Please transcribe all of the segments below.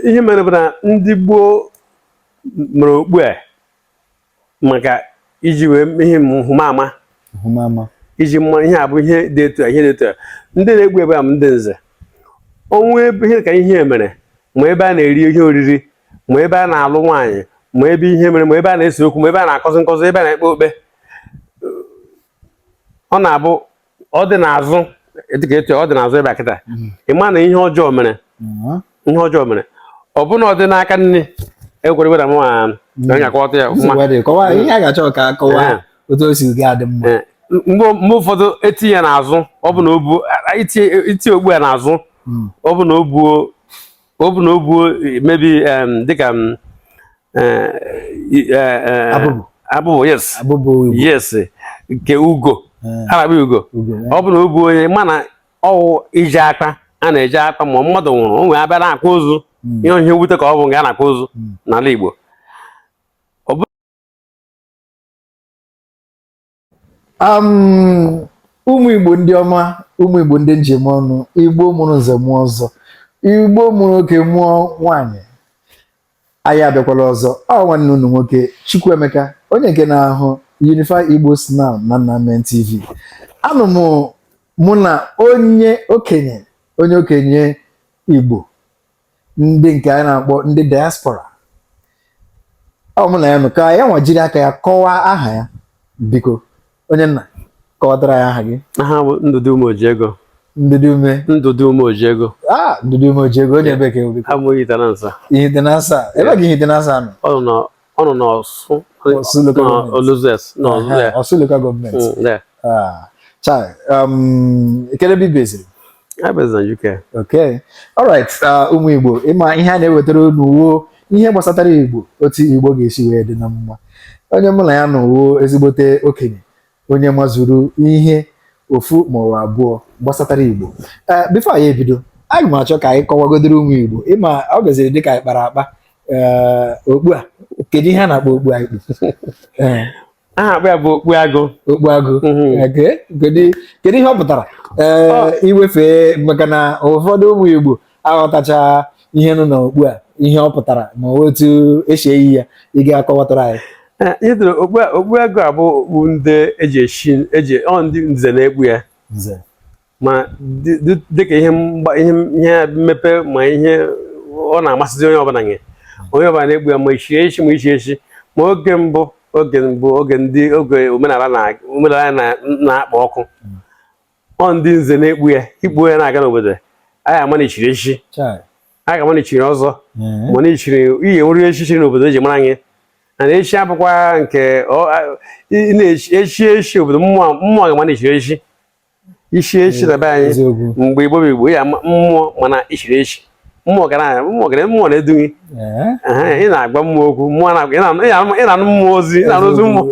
ihe mere bụ na ndị gboo mere okpu a maka iji wee ihe nhụmama iji ama ihe a bụ ihe dị etu a ihe dị etu a ndị na-ekpu ya bụ ndị nze o nwe ebe ihe ka ihe mere ma ebe a na-eri ihe oriri ma ebe a na-alụ nwaanyị ma ebe ihe mere ma ebe a na-ese okwu ma ebe a na-akụzi nkuzi ebe a na-ekpe okpe ọ na-abụ ọ dị n'azụ dịka etu ọ dị n'azụ ebe a kịta mm. ị ma na ihe ọjọọ mere mm. ihe ọjọọ mere ọ bụ na ọ dị n'aka nni ekwere weda mụ mm. onye akọwata ya ihe a ga-achọ ka akọwa eh. otu o si gị adị mma eh. mgbe ụfọdụ etinye n'azụ ọ bụ na o buo itinye okpu a n'azụ ọ bụ na o buo ọ bụ na o buo mebi dịka abụbụ yes yes nke ugo a na-akpọ ugo ọ bụrụ na ọ bụ onye ma na ọwụ ije akwa a na-eje akwa ma mmadụ nwụrụ ọnwụ abịa na-akwa ozu hmm. ihe ihe mwute ka ọ bụ nga a na-akwa ozu hmm. n'ala Igbo um ụmụ igbo ndị ọma ụmụ igbo ndị m ji eme ọnụ igbo mụrụ nze mụọ ọzọ igbo mụrụ oke mụọ nwanyị anyị abịakwala ọzọ ọ nwanne unu nwoke chukwuemeka onye nke na-ahụ unify igbo snam na nnamen tv anọ m mụ na onye okenye onye okenye igbo ndị nke anyị na-akpọ ndị diaspora ọ mụ na ya nọ ka ya nwa jiri aka ya kọwaa aha ya biko onye nna kọwatara anyị aha gị aha m bụ ndụdị ume oji ego ndụdị ume ndụdị ume oji ego a ah, ndụdị ume oji ego onye ebee ka ị bụ abụ m Ihitenansa Ihitenansa ebee ka Ihitenansa nọ ọ nọ ọ nọ n'ọsụ Ọsụ local government. Orlu zone nọ Ehe, there. ọsụ local gọọmenti Mm, there. Ah, chai um, kedu ebe ibeziri I based on UK. okay alright ah, ụmụ igbo ị ma ihe a na-ewetara unu uwo ihe gbasatara igbo otu igbo ga-esi wee dị na mma onye mụ na ya nọ uwo ezigbote okenye onye mazuru ihe ofu ma ọ abụọ gbasatara Igbo ee eh, before anyị ebido aga m achọ ka anyị kọwagodoro ụmụ Igbo ị ma ọ gaziri dịka anyị kpara akpa eh, okpu a kedu ihe a na-akpọ okpu a eh. a na-akpọ ya bụ okpu agụ okpu agụ mhm. kedu ihe ọ pụtara ee iwefe maka na ụfọdụ ụmụ Igbo aghọtacha ihe nọ n'okpu a ihe ọ pụtara ma otu esi eyi ya ị ga-akọwatara anyị ị hụrụ okpu agụ a bụ okpu ndị echiri echi ọ ndị nze na-ekpu ya ma dịka ihe ihe mmepe ma ihe ọ na-amasịzi onye ọbụla nye onye ọbụla na-ekpu ya ma ichi echi ma ichi echi ma oge mbụ oge mbụ oge ndị oge omenala na-akpa ọkụ ọ ndị nze na-ekpu ya ikpu ya na-aga n'obodo anyị ama na i chiri echichi a ga-ama na i chiri ọzọ ma na i chiri ihe nwere echichi n'obodo eji mara anyị na echi abụkwa nke echi echi obodo mmụọ ga-ama na i chiri echi isi echi na be anyị mgbe igbo bụ igbo ya mmụọ ma na i chiri echi mmụọ gara mmụọ gara mmụọ na-edu gị ị na-agwa mmụọ okwu mmụọ na-anụ mmụọ ozi ị na-anụ ozi mmụọ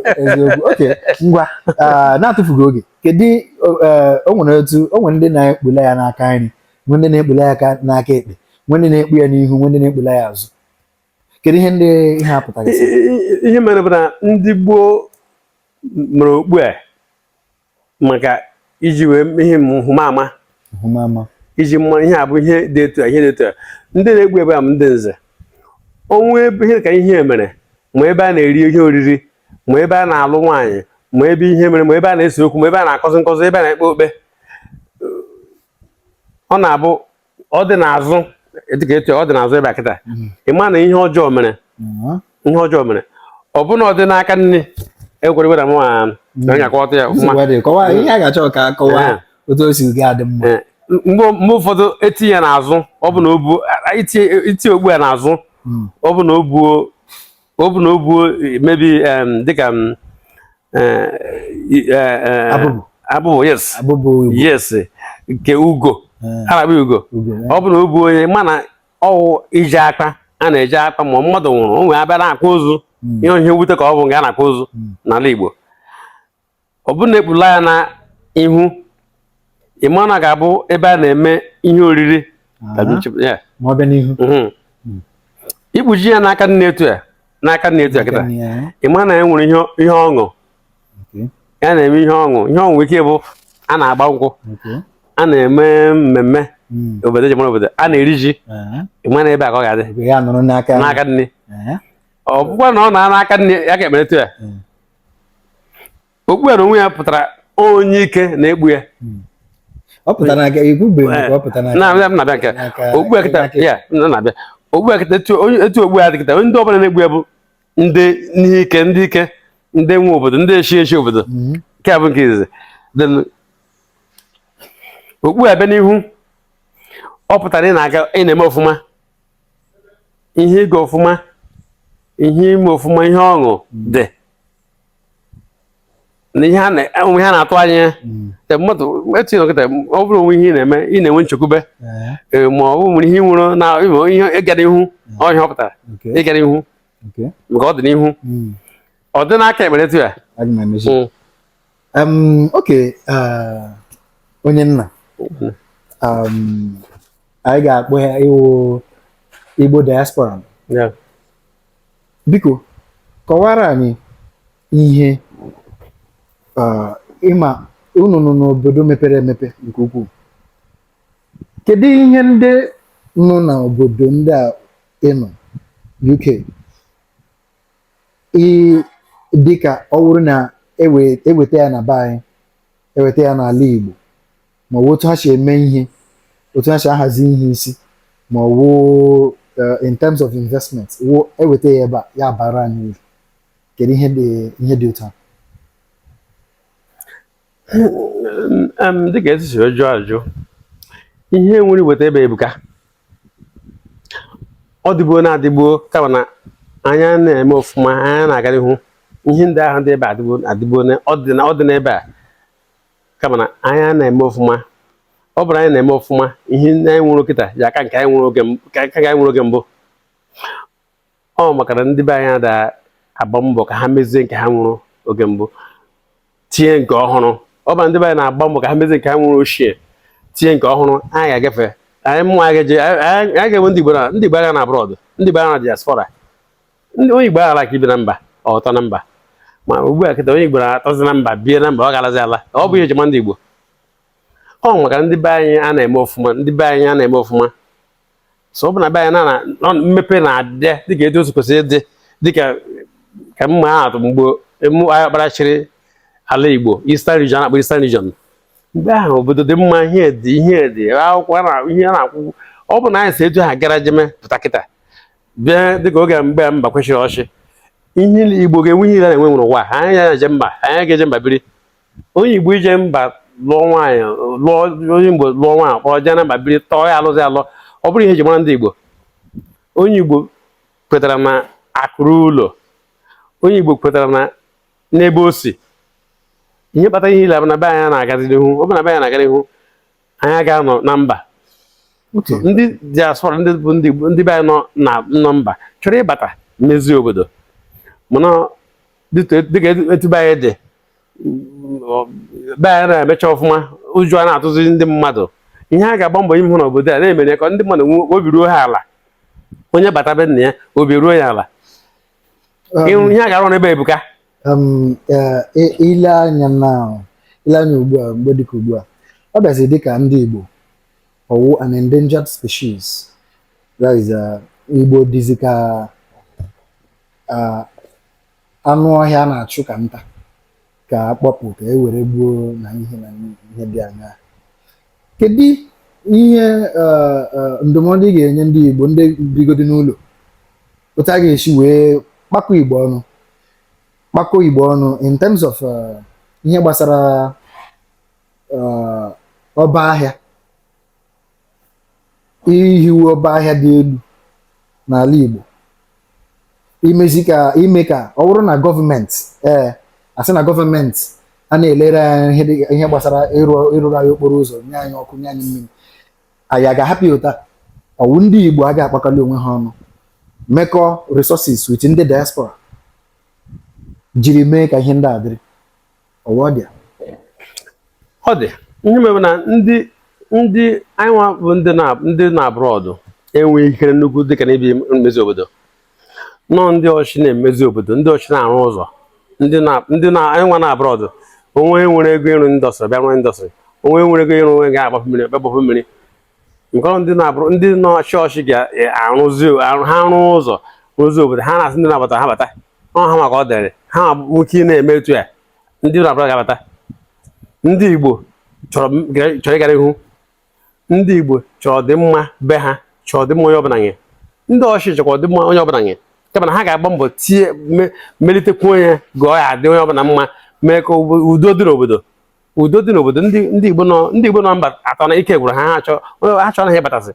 ngwa ah, n'atụfughị oge kedu eh, o nwere otu o nwere ndị na-ekpula ya n'aka nri nwee ndị na-ekpula ya aka n'aka ekpe nwee ndị na-ekpu ya n'ihu nwee ndị na-ekpula ya azụ kedu ihe ndị ihe a pụtara I- i- i- ihe mere bụ na ndị gboo mere okpu a maka iji wee mee ihe nhụmama nhụmama iji ma ihe a bụ ihe dị etu a ihe dị etu a ndị na-ekpu ya bụ ndị nze o nwee ebe ihe ka ihe mere ma ebe a na-eri ihe oriri ma ebe a na-alụ nwaanyị ma ebe ihe mere ma ebe a na-ese okwu ma ebe a na-akọzi nkọzi ebe a na-ekpe okpe ọ na-abụ ọ dị n'azụ dịka etu ọ dị n'azụ ebe a kịta mm. ị ma na ihe ọjọọ mere mm-hmm. ihe ọjọọ mere ọ bụ na ọ dị n'aka nni ekwere gwara m mm. onye akọwata ya ọfụma otu o si gị adị mma eh, mgbe ụfọdụ etinye ya n'azụ ọ bụ na ọ bụ itinye okpu a n'azụ hmm. ọ bụ na o buo ọ bụ na ọ bụ maybe dịka abụbụ yes yes nke ugo a na-akpọ ugo ọ bụ na ọ bụ onye mana ọ wụ iji akpa a na-eji akpa ma mmadụ nwụrụ ọnwụ abịa na-akwa ozu hmm. ihe ihe wute ka ọ bụ nga a na-akwa ozu hmm. n'ala Igbo ọ bụrụ na ekpula ya n'ihu ị ma na ọ ga-abụ ebe a na-eme ihe oriri tabi Aha. nchep- ya. ma ọ bịa n'ihu Mhm. Mm. ikpuchi ya n'aka nni etu a n'aka nni etu a kịta Nne ya, ị ma na ya nwere ihe ihe ọṅụ okay, ya na-eme ihe ọṅụ ihe ọṅụ nwere ike bụ a na-agba nkwụ okay. a na-eme mmemme Mm, obodo eji mara obodo a na-eri ji aha. ị ma na ebe a ka ọ ga-adị Ebe ya nụrụ n'aka n'aka nni Aha. ọ bụkwa na ọ na n'aka nni ya aka ekpe etu a Mm. okpu a n'onwe ya pụtara onye ike na-ekpu ya hmm. okpu etu okpu a dị kịta ndị ọbụla na-ekpu ya bụ ndị ihe ike ndị ike ndị nwe obodo ndị echi echi obodo hmm. nke a bụ nke izizi okpu a bịa n'ihu ọ pụtara ị na-aga ị na-eme ọfụma ihe ịga ọfụma ihe ime ọfụma ihe ọṅụ dị na ihe onwe ha na-atụ anya ya te mmadụ etinye kịta ọ bụrụ onwe ihe ị na-eme ị na-enwe nchekwube ma ọ bụ nwere ihe nwụrụ na ihe ịgara ihu ọhịa ọ pụtara ịgara ihu maka ọ dị n'ihu ọ dị n'aka ekpe etu a Um, okay, uh, onye nna Okwu. um, anyị ga-akpọ ya ị wụ Igbo diaspora Ya. biko kọwara anyị ihe uh, ị ma unu nọ n'obodo mepere emepe nke ukwuu kedu ihe ndị nọ n'obodo ndị a ị nọ UK ị dịka ọ bụrụ na ewe- eweta ya na be anyị eweta ya n'ala Igbo ma ọ bụ otu ha si eme ihe otu ha si ahazi ihe isi ma ọ bụ eh, in terms of investment wụ eweta ya ebe a ya abaara anyị uru kedu ihe dị ihe dị otu a dịka esi siri jụọ ajụ ihe nwere iweta ebe a ebuka ọ dịgbuo na-adịgbuo kama na anyị a na-eme ọfụma anyị a na-aga n'ihu ihe ndị ahụ dị ebe adịgbuo adịgbuo ọ dị n'ebe a kama na anyị a na-eme ọfụma ọ bụrụ anyị na-eme ọfụma ihe ndị anyị nwere kịta ya aka nke anyị nwere oge mbụ ọ maka na ndị be anyị ada agba mbọ ka ha mezie nke ha nwere oge mbụ tinye nke ọhụrụ ọ bụ ndị be anyị na-agba mbọ ka ha mezie nke ha nwere ochie tinye nke ọhụrụ anyị ga-agafe anyị mụ anyị ga-enwe ndị Igbo na ndị Igbo agha na abroad ndị Igbo agha na diaspora ndị onye Igbo aghara ka ibi na mba ọ tọ na mba ma ugbu a kịta onye Igbo na-atọzi na mba bie na mba ọ garazi ala ọ bụ ihe e ji ama ndị Igbo ọ maka ndị be anyị a na-eme ọfụma ndị be anyị a na-eme ọfụma so ọ bụ na be anyị na na mmepe na-adị dịka etu o si kwesị ịdị dịka ka m maa atụ mgbe M.I. Okpara chịrị ala Igbo Eastern Region na-akpọ Eastern Region mgbe ahụ obodo dị mma ihe dị ihe dị akwụkwọ na ihe a na-akwụ ọ bụ na anyị si etu ahụ gara jeme pụta kịta bịa dịka oge mgbe Mbakwe chịrị ọchịchị ihe Igbo ga-enwe ihe niile na-enwe nwere ụwa anyị ya je mba anyị ga-eje mba biri onye igbo ije mba lụọ nwaanyị lụọ onye igbo lụọ nwaanyị kpọrọ jee na mba biri tọọ ya alọzi alọ ọ bụrụ ihe e ji mara ndị igbo onye igbo kwetara na akụ ruo ụlọ onye igbo kwetara na n'ebe o si ihe kpata ihe niile na be anyị na-agazi n'ihu ọ bụ na be anyị na-aga n'ihu anyị aga-anọ na mba ndị diaspora ndị bụ ndị be anyị nọ na nọ mba chọrọ ịbata mezie obodo mana dịka etu be anyị dị be anyị na-emecha ọfụma ụjọ a na-atụzi ndị mmadụ ihe a ga-agba mbọ ime hụ n'obodo a na-emere ka ndị mmadụ nwee obi ruo ha ala onye bata be nna ya obi ruo ya ala um, ihe a ga-arụ n'ebe a ebuka um, i lee anya na i lee anya ugbu a mgbe dịka ugbu a ọ bịazi dịka ndị Igbo ọ wụ an endangered species that is uh, Igbo dịzi ka uh, anụ ọhịa a na-achụ ka nta ka a kpọpụ ka e were gbuo na ihe na ihe dị anya kedu ihe eh, eh, ndụmọdụ ị ga-enye ndị Igbo ndị bigodi n'ụlọ otu a ga-esi wee kpakọ Igbo ọnụ kpakọ Igbo ọnụ in terms of eh, ihe gbasara ọba ahịa ihiwe ọba ahịa dị elu n'ala Igbo imezi ka ime ka ọ bụrụ na gọọmenti ee a sị na gọọmenti a na-elere anyị ihe gbasara ịrụrụ anyị okporo ụzọ nye anyị ọkụ nye anyị mmiri anyị a ga-ahapụ ya ụta ọ wụ ndị Igbo a ga-akpakọli onwe ha ọnụ mekọ resources with ndị diaspora jiri mee ka ihe ndị a dịrị ọ dị ọ dị ihe mere na ndị ndị anyị nwa bụ ndị nọ abroad enweghị ikere nnukwu dịka n'ebe mmezi obodo na ọ ndị ọchịchị na-emezi obodo ndị ọchịchị na-arụ ụzọ ndị na anyị nwa nọ abroad onye nwere ego ịrụ industry bịa rụọ industry onye nwere ego ịrụ onye ga-agbapụ mmiri bịa gbapụ mmiri nke ọrụ ndị na-abụrụ ndị nọ ọchịchị ga-arụzi e, arụ ha rụọ ụzọ rụzi obodo ha na-asị ndị na-abata ha bata ọ ha maka ọ dịrị ha nwoke ị na-eme etu ya ndị nọ abroad ga-abata ndị Igbo chọrọ ịgara ihu ndị Igbo chọrọ ọdịmma be ha chọrọ ọdịmma onye ọbụla nye ndị ọchịchị chọkwa ọdịmma onye ọbụla nye kama na ha ga-agba mbọ tie melitekwuo ihe ka ọ dị onye ọbụla mma mee ka udo dị n'obodo udo dị n'obodo ndị ndị Igbo nọ ndị Igbo nọ mba atọ na ike gwụrụ ha ha achọ ha chọrọ ha ịbatazi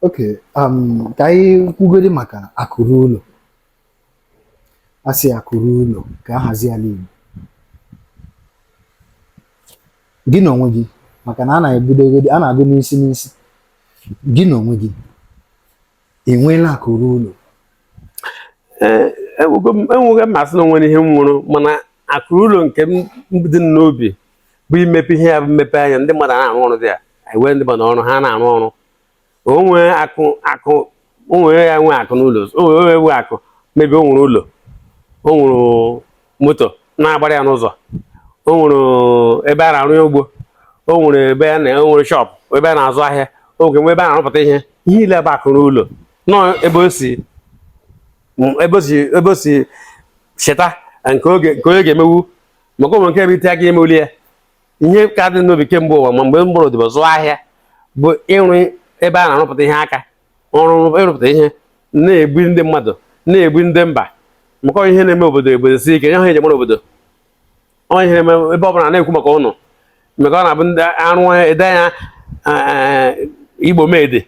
okay um, ka anyị kwugodi maka akụ ruo ụlọ a sị akụ ruo ụlọ ka a hazie ala Igbo gị na onwe gị maka na a na-ebidogodi a na-agụ n'isi n'isi gị na onwe gị ị nweela akụ ruo ụlọ enweghị m asị na o nwere ihe m wuru mana akụ ruo ụlọ nke dị m n'obi bụ imepe ihe ya bụ mmepe anya ndị mmadụ na-arụ ọrụ dị ya ewe ndị mmadụ ọrụ ha na-arụ ọrụ onwe akụ akụ onwe ya nwe akụ n'ụlọ onye nwe akụ maybe o nwere ụlọ o nwere moto na-agbara ya n'ụzọ o nwere ebe a na-arụ ya ugbo o nwere ebe a na-enwere shop ebe a na-azụ ahịa o nwere ebe a na-arụpụta ihe ihe ile ebe akụ ruo ụlọ nọ ebe o si ebe o si ebe o si cheta nke oge nke onye ga-emewu maka ụmụ nke ebe ite aka emewuli ya ihe ka dị n'obi kemgbe ụwa ma mgbe m gbara odibo zụọ ahịa bụ ịrụ ebe a na-arụpụta ihe aka ọrụ ịrụpụta ihe na-ebu ndị mmadụ na-ebu ndị mba maka ihe na-eme obodo obodo si ike nye ha enyemara obodo onye ihe na-eme ebe ọbụla na-ekwu maka ụnụ maka ọ na-abụ ndị arụ ede ya eh, igbo made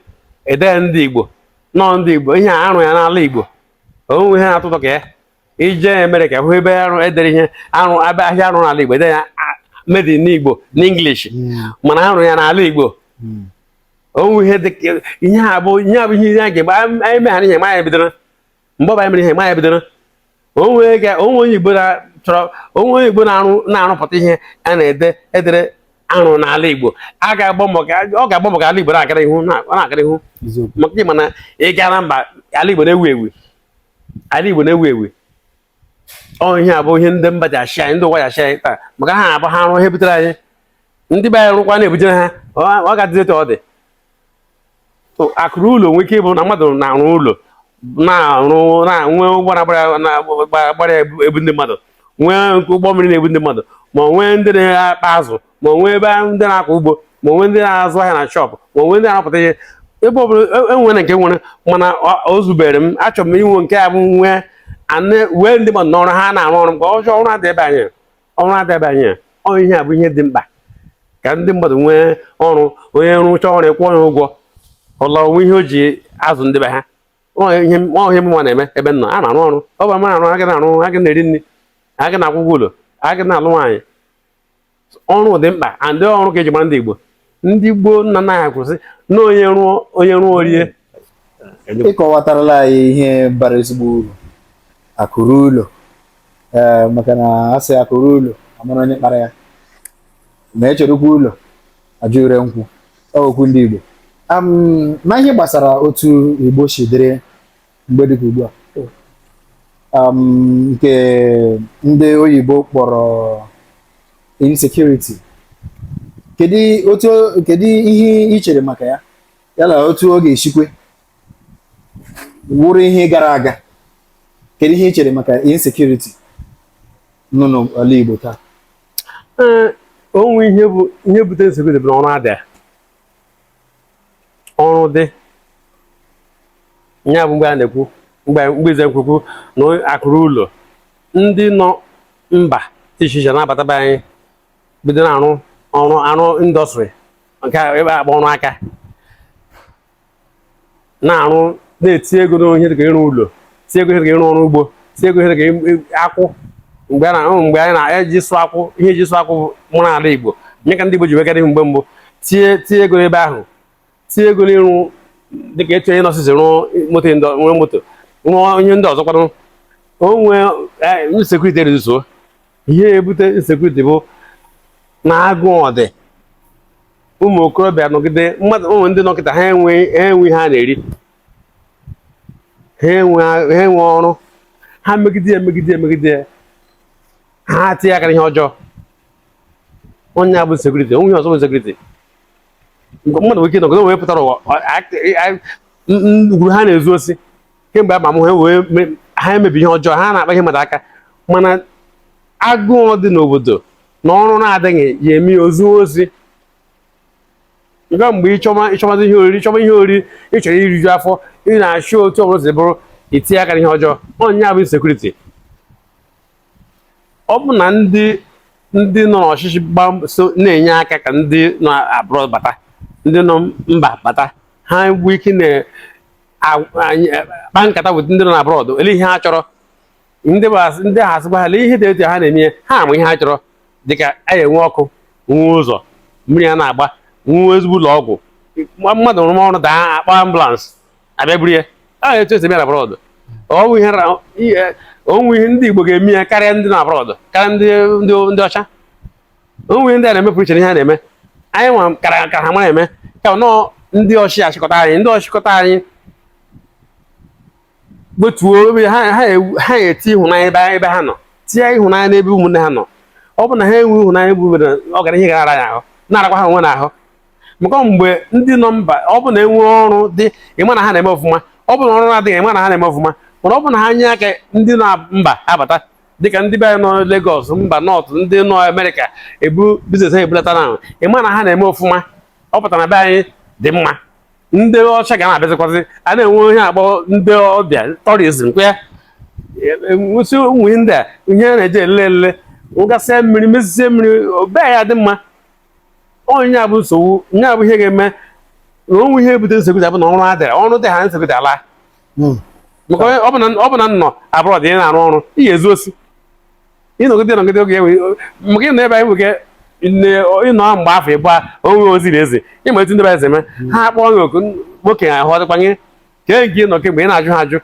idea ndị igbo nọọ ndị igbo ihe a arụ ya n'ala igbo onwe ihe na-atụtụ ka ya ị jee Amerịka hụ ebe arụ e dere ihe arụ ebe ahịa arụ n'ala Igbo ede ya made in Igbo n'English hmm. mana arụ ya n'ala Igbo hmm. o nwe ihe dị ihe a bụ ihe a bụ ihe a ga-egbe anyị meghara ihe ma ya bidoro mgbe ọ bụ anyị mere ihe ma ya bidoro o nwee onye Igbo chọrọ o nwee onye Igbo na-arụpụta ihe a na-ede edere arụ n'ala Igbo ọ ga-agba mbọ ka ala Igbo na-agara ihu na-agara ihu maka ị ma na ị gara mba ala Igbo na-ewu ewu ala Igbo na-ewu ewu ọ ihe a bụ ihe ndị mba ji achị anyị ndị ụwa ji achị anyị taa maka ha abụ ha rụọ ihe butere anyị ndị be anyị rụkwaa na-ebujere ha ọ ga-adịzi etu ọ dị akụ ruo ụlọ nwee ike ịbụ na mmadụ na-arụ ụlọ na-arụ na-enwe ụgbọ na-agbara ebu ndị mmadụ nwee ụgbọ mmiri na-ebu ndị mmadụ ma nwee ndị na-akpa azụ ma nwee ebe ndị na-akọ ugbo ma nwee ndị na-azụ ahịa na shop ma nwee ndị na-arụpụta ihe ebe ọ bụla enwere e nke nwere mana o zubere m achọrọ m inwe nke a bụ nwee wee ndị mmadụ n'ọrụ ha na-arụ ọrụ mgbe ọjọọ ọrụ adị ebe anyị ọrụ adị ebe anyị ọ ihe a bụ ihe dị mkpa ka ndị mmadụ nwee ọrụ onye rụcha ọrụ ị kwụọ ya ụgwọ ọ laa o nwee ihe o ji azụ ndị be ha ihe mụnwa na-eme ebe nọ a na-arụ ọrụ ọ bụ ma na-arụ a ga na-arụ a ga na-eri nri a ga na-akwụ ụgwọ ụlọ a ga na-alụ nwaanyị ọrụ dị mkpa and ọrụ ka e ji mara ndị Igbo ndị gboo nna nna ha kwusi na onye rụọ onye rụọ o rie ị kọwatarala anyị ihe bara ezigbo uru akụ ruo ụlọ ee maka na a sị akụ ruo ụlọ a mara onye kpara ya ma echerekwa ụlọ ajụ ure nkwụ ọ okwu ndị Igbo Am, na ihe gbasara otu Igbo si dịrị mgbe dịka ugbu a um, nke ndị oyibo kpọrọ insecurity kedu otu kedu ihe ị chere maka ya yana otu ọ ga-esikwe wụrụ ihe gara aga kedu ihe ị chere maka insecurity nọ n'ala Igbo taa ee o nwe ihe bụ ihe butere insecurity bụ na ọrụ adịa ọrụ dị ya bụ mgbe a na-ekwu mgbe mgbe ize nkwukwu na akụ ruo ụlọ ndị nọ mba dị iche iche na-abata be anyị bido na-arụ ọrụ arụ industry nke a ebe a kpọ ọrụ aka na-arụ na-etie ego n'ihe dịka ịrụ ụlọ tie ego ihe dịka ịrụ ọrụ ugbo tie ego ihe dịka akwụ mgbe mgbe anyị na-eji sụ akwụ ihe e ji sụ akwụ mara ala Igbo nye aka ndị Igbo ji wee gara ihu mgbe mbụ tie tie ego n'ebe ahụ tie ego n'ịrụ dịka etu Innoson si rụọ moto nwere moto rụọ ihe ndị ọzọ kwadụ onwe insecurity e-reduce-uo ihe ebute insecurity bụ na agụụ adị ụmụ okorobịa nọgide mmadụ ụmụ ndị nọkịta ha enwe ha enwe ha na-eri ha enwe ha enwe ọrụ ha megide ya megide ya megide ya ha tinye aka n'ihe ọjọọ ọ nya bụ insecurity o nwe ihe ọzọ bụ insecurity mmadụ nwere ike nọgide wee pụtara ụwa gwuru ha na-ezu osi kemgbe ama m ha wee me- ha emebe ihe ọjọọ ha na-akpa ihe mmadụ aka mana agụụ dị n'obodo na ọrụ na-adịghị ya eme ya o zuo osi nga mgbe ị chọma ị chọmazi ihe oriri ị chọma ihe oriri ị chọrọ iriju afọ ị na-achọ otu ọbụla si bụrụ i tinye aka n'ihe ọjọọ ọ nya bụ insecurity ọ bụ na ndị ndị nọ n'ọchịchị gbaa mbọ- so na-enye aka ka ndị nọ abroad bata ndị nọ mba bata ha nwee ike na- kpaa nkata bụ ndị nọ na abroad ele ihe ha chọrọ ndị ha asịkwa ha lee ihe dị etu a ha na-eme ha ama ihe ha chọrọ dịka a enwe ọkụ nwe ụzọ mmiri a na-agba nwe ezigbo ụlọ ọgwụ mmadụ rụrụ ọrụ daa a kpọọ ambulance abịa buru ya a etu e si eme na abroad o nwe ihe ndị Igbo ga-eme ya karịa ndị nọ abroad karịa ndị ọcha o nwere ndị a na-emepụrụ iche ihe a na-eme anyị nwa kara ka ha mara eme ka nọọ ndị ọchị ọchịchị anyị ndị ọchịchị anyị gbotuo ebe ha ha eti ịhụnanya ebe ebe ha nọ tinye ịhụnanya n'ebe ụmụnne ha nọ ọ bụ na ha enwe ịhụnanya bụ obodo ọ gara ihe gara ya ahụ na-arakwa ha onwe ha ahụ maka mgbe ndị nọ mba ọ bụ na enwe ọrụ dị ị ma na ha na-eme ọfụma ọ bụ na ọrụ na-adịghị ị ma na ha na-eme ọfụma mana ọ bụ na ha nye aka ndị nọ mba abata dịka ndị be anyị nọ Lagos mba North ndị nọ Amerịka ebu business ha ebulata na ị ma na ha na-eme ọfụma ọ pụtara na be anyị dị mma ndị ọcha ga na-abịazikwazị a na-enwe ihe a kpọ ndị ọbịa tourism kwa ya nwụsị ụmụ ndị a ihe a na-eji ele ele ụgasịa mmiri mezisie mmiri be anyị dị mma ọ nya bụ nsogbu nya bụ ihe ga-eme na o nwe ihe ebute nsogbu abụ na ọrụ adịra ọrụ dị ha nsogbu alaa hmm. maka ọ bụ na ị nọ abroad na-arụ ọrụ ị ga-ezu osi ị nọgide nọgide oge ewe maka ịnọ ebe anyị nwoke ị nọ mgbe afọ ịbụọ o nwe ozi ị na-ezi ị ma etu ndị be anyị si eme hmm. ha kpọọ gị oku nwoke ahụ ọdịkwanye kee nke ị nọ kemgbe ị na-ajụ ha ajụ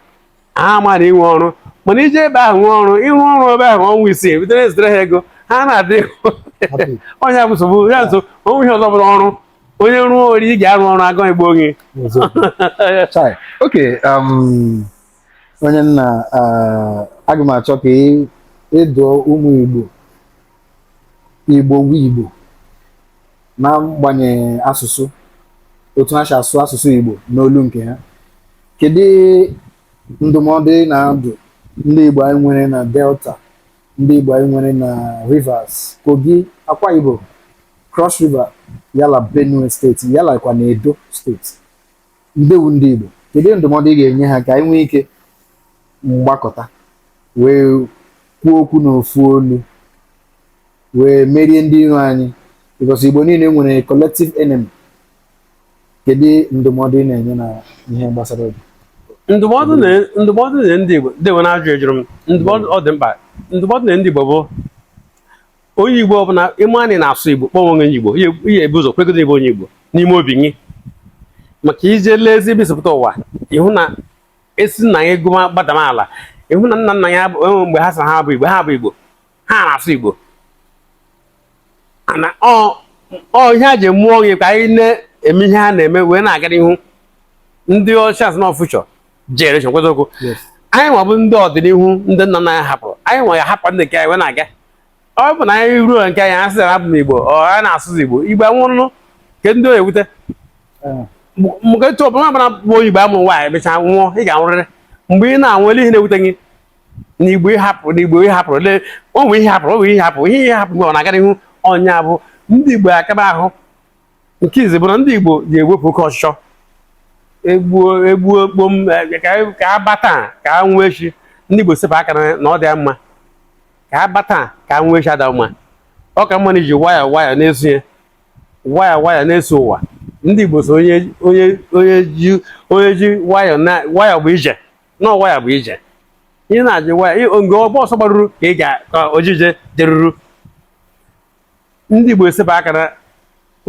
ha ma na i nwe ọrụ mana i je ebe ahụ nwee ọrụ ị rụ ọrụ ebe ahụ ọnwa isii bido na-ezitere ha ego ha na-adị ọ nya bụ nsogbu ya nso o nwe ihe ọzọ bụrụ ọrụ onye rụọ o rie ị ga-arụ ọrụ agụ igbo gị okay um, onye nna uh, aga m achọ ka ị dụọ ụmụ igbo igbo wụ igbo n'agbanyeghị asụsụ otu ha si asụ asụsụ igbo n'olu nke ha kedu ndụmọdụ ị na-adụ ndị igbo anyị nwere na delta ndị igbo anyị nwere na rivers kogi akwa ibom Cross River, ya la Benue steeti, ya lakwa na Edo steeti. Ndewu ndị Igbo, kedu ndụmọdụ ị ga-enye ha ka anyị nwee ike gbakọta wee kwuo okwu n'ofu olu wee merie ndị iro anyị because Igbo niile nwere collective enemy. Kedu ndụmọdụ ị na-enye na ihe gbasara obi? Ndụmọdụ na ndụmọdụ na ndị Igbo, ndị Igbo na-ajụ ejụrụ m, ndụmọdụ ọ dị mkpa, ndụmọdụ na ndị Igbo bụ onye igbo ọbụla ị ma na ị na-asụ igbo kpọọ onwe igbo ị ya-ebu ụzọ kwegodo ị bụ onye igbo n'ime obi gị maka i jee lee ezi ebe i si pụta ụwa ị hụ na esi nna ya ego gbadam ala ị hụ na nna nna ya enwe mgbe ha sị ha bụ igbo ha bụ igbo ha na-asụ igbo ọ ihe a ji mụọ gị ka anyị na-eme ihe ha na-eme wee na-aga n'ihu ndị ọcha asị na ọ future generation kịta ọ bụ anyị nwa bụ ndị ọdịnihu ndị nna nna ya hapụrụ anyị nwa ya hapụ ndị nke anyị wee na-aga ọ bụ na anyị ruo nke anyị asị na abụ m igbo ọ ya na-asụzi igbo igbo anwụrụ ke ndị oyi ewute mgbe etu ọbụla ọbụla bụ igbo a mụrụ nwaanyị mecha nwụọ ị ga-anwụrịrị mgbe ị na-anwụ ele ihe na-ewute gị na igbo ị hapụ na igbo ị hapụ le o nwere ihe hapụrụ o nwere ihe hapụ ihe ihe hapụ mgbe ọ na-aga n'ihu ọ ya bụ ndị igbo akaba ahụ nke izizi bụ na ndị igbo ji ewepụ oke ọchịchọ egbuo egbuo kpom ka a bata ka a nwee echi ndị igbo sepụ aka na ọ dịghị mma ka a bata ka a nwee echi adịghị mma ọ ka mma na iji wayọ wayọ na-eso ya wayọ wayọ na-eso ụwa ndị Igbo so onye onye onye ji onye ji wayọ na wayọ bụ ije na wayọ bụ ije ihe na-eji wayọ ebe ọgba ọsọ gbaruru ka ị ga ka oje ije jeruru ndị Igbo esepụ aka na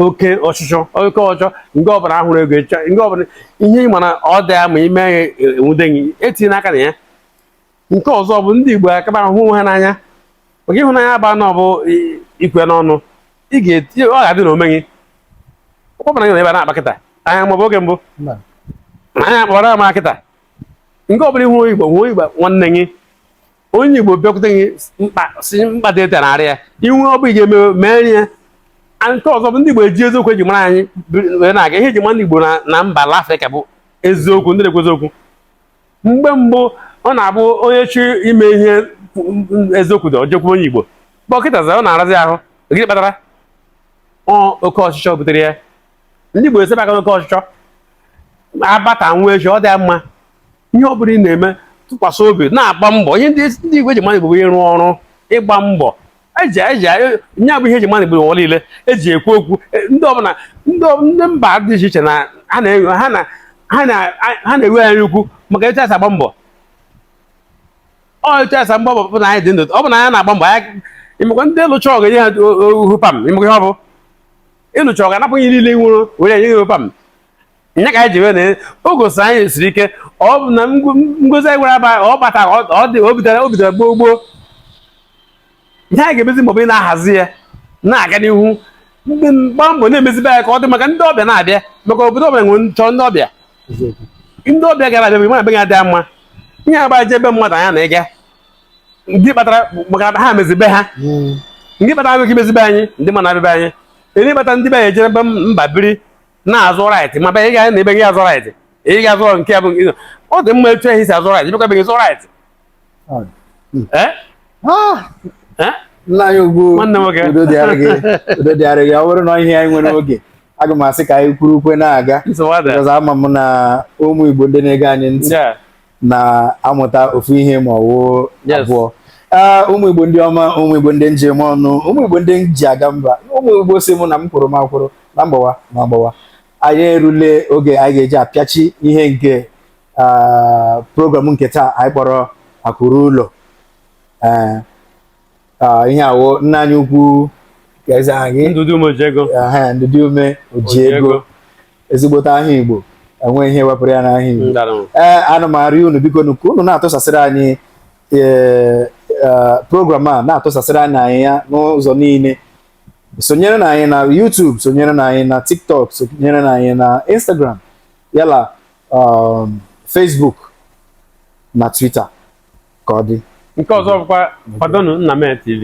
oke ọchịchọ oke ọchọ nke ọbụla a hụrụ ego nke ọbụla ihe ị ma na ọ dịghị mma i mee ya e nwude gị etinyena aka na ya nke ọzọ bụ ndị Igbo akaba hụ onwe ha n'anya maka ịhụnanya bụ anọ bụ ikwe n'ọnụ ị ga-eti ọ ga-adị na omume gị ọkpọpụna gị na ebe a na-akpa kịta anya maọbụ oge mbụ anya akpọrọ ama kịta nke ọbụla ị hụ Igbo hụ Igbo nwanne gị onye Igbo bịakwute gị mkpa si mkpa dị ete narị ya i nwee ọ bụ ị ga-eme mee ihe nke ọzọ bụ ndị Igbo eji eziokwu e ji mara anyị wee na-aga ihe e ji mara ndị Igbo na mba ala Afrịka bụ eziokwu ndị na-ekwu eziokwu mgbe mbụ ọ na-abụ onye chọọ ime ihe eziokwu dị o jekwu onye Igbo but kịtazi ọ na-arazi ahụ gịnị kpatara oke ọchịchọ butere ya ndị Igbo esebe aka n'oke ọchịchọ a baa taa nwụọ echi ọ dịa mma ihe ọ bụla ị na-eme tụkwasị obi na-agba mbọ ihe eji ma ndị Igbo bụ ịrụ ọrụ ịgba mbọ eji eji nya bụ ihe eji ma ndị Igbo n'ụwa niile eji ekwu okwu e, ndị ọbụla ndị mba dị iche iche na ha na-enwe ha na ha na-ewe anyị ukwu maka etu asa agba mbọ ọ etu asa agba mbọ bụ na anyị dị ndụ ọ bụ na anyị na-agba mbọ anyị ị makwa ndị lụcha ọgụ nye ha ohu pam ị makwa ihe ọ bụ ịlụcha ọgụ anapụ gị ihe niile i nwere enye gị ohu pam nya ka anyị ji wee na o gosi na anyị siri ike ọ bụ na ngozi anyị gwara aba ọ bata ọ dị o bidoro o bidoro gboo gboo ihe anyị ga-emezi maọbụ ị na-ahazi ya na-aga n'ihu ndị mgba mbọ na-emezibe ya ka ọ dị maka ndị ọbịa na-abịa maka obodo ọbịa nwere nchọ ndị ọbịa ndị ọbịa gara abịa ma be gị adịa mma ihe agba je ebe mmadụ anya na ịga gịnị kpatara maka ha mezi be ha gịnị kpatara abịa ka i mezi be anyị ndị mmadụ abịa be anyị gịnị kpatara ndị be anyị ejere be mba biri na-azụ right ma bịa ị ga na ebe gị azụ right ị ga-azụ nke ya bụ nke ọ dị mma etu esi azụ right bịakwa be gị zụ right Eh? Ah, Eh? nna anyị ukwu Nwanne nwoke. udo dịara gị udo dịara gị ọ bụrụ na ihe anyị nwere oge aga m asị ka anyị kwuru okwu a na-aga Nsogbu adịghị. because ama m na ụmụ Igbo ndị na-ege anyị ntị Yeah. na-amụta ofu ihe ma ọ wụ Yes. abụọ Ee, ụmụ igbo ndị ọma ụmụ igbo ndị m ji eme ọnụ ụmụ igbo ndị m ji aga mba ụmụ igbo sị mụ na m kwụrụ m akwụrụ na m gbawa m agbawa anyị erule oge anyị ga-eji apịachi ihe nke ah, program nke taa anyị kpọrọ akụ ruo ụlọ Ee, Ah, ihe awo nna anyị ukwu ka eze anyị ndụdị umeojiego aha ndụdị umeojiego ezigbote aha igbo enwe ihe wepụrụ ya n'aha igbo ndị ọma ee ana m arịọ unu bikonụ ka unu na-atụsasịrị anyị ee, eh, program a na-atụsasịrị anyị anyị ya n'ụzọ niile sonyerenụ anyị na YouTube sonyerenụ anyị na TikTok sonyerenụ anyị na Instagram ya la um, Facebook na Twitter ka ọ dị nke ọzọ bụkwa kwadonụ nna mee tv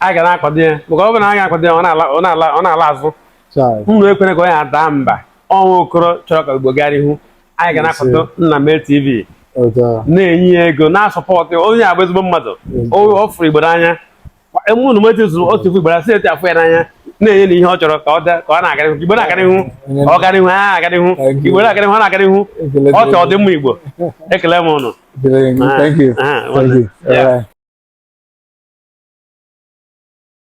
anyị ga na-akwado ya maka ọ bụ na a ga-akwado ya ọ na-ala ọ na-ala ọ na-ala azụ Chai. unu ekwere ka onye a daa mba ọ wụ okoro chọrọ ka igbo gaa n'ihu anyị ga na-akwado nna mee tv Otu a. na-enye ya ego na-asupport ya. onye a bụ ezigbo mmadụ o ọ fụrụ igbo n'anya emume unu meti zụrụ otu ifu igbo si etu a fụ ya n'anya na-enye ya ihe ọ chọrọ ka ọ da- ka ọ na-aga n'ihu igbo na-aga n'ihu ọ ga n'ihu ha aga n'ihu igbo na-aga n'ihu ọ na-aga n'ihu ọ chọọ ọdịmma igbo ekele m unu Thank you. Ah, ah, Thank you. yeah. All right.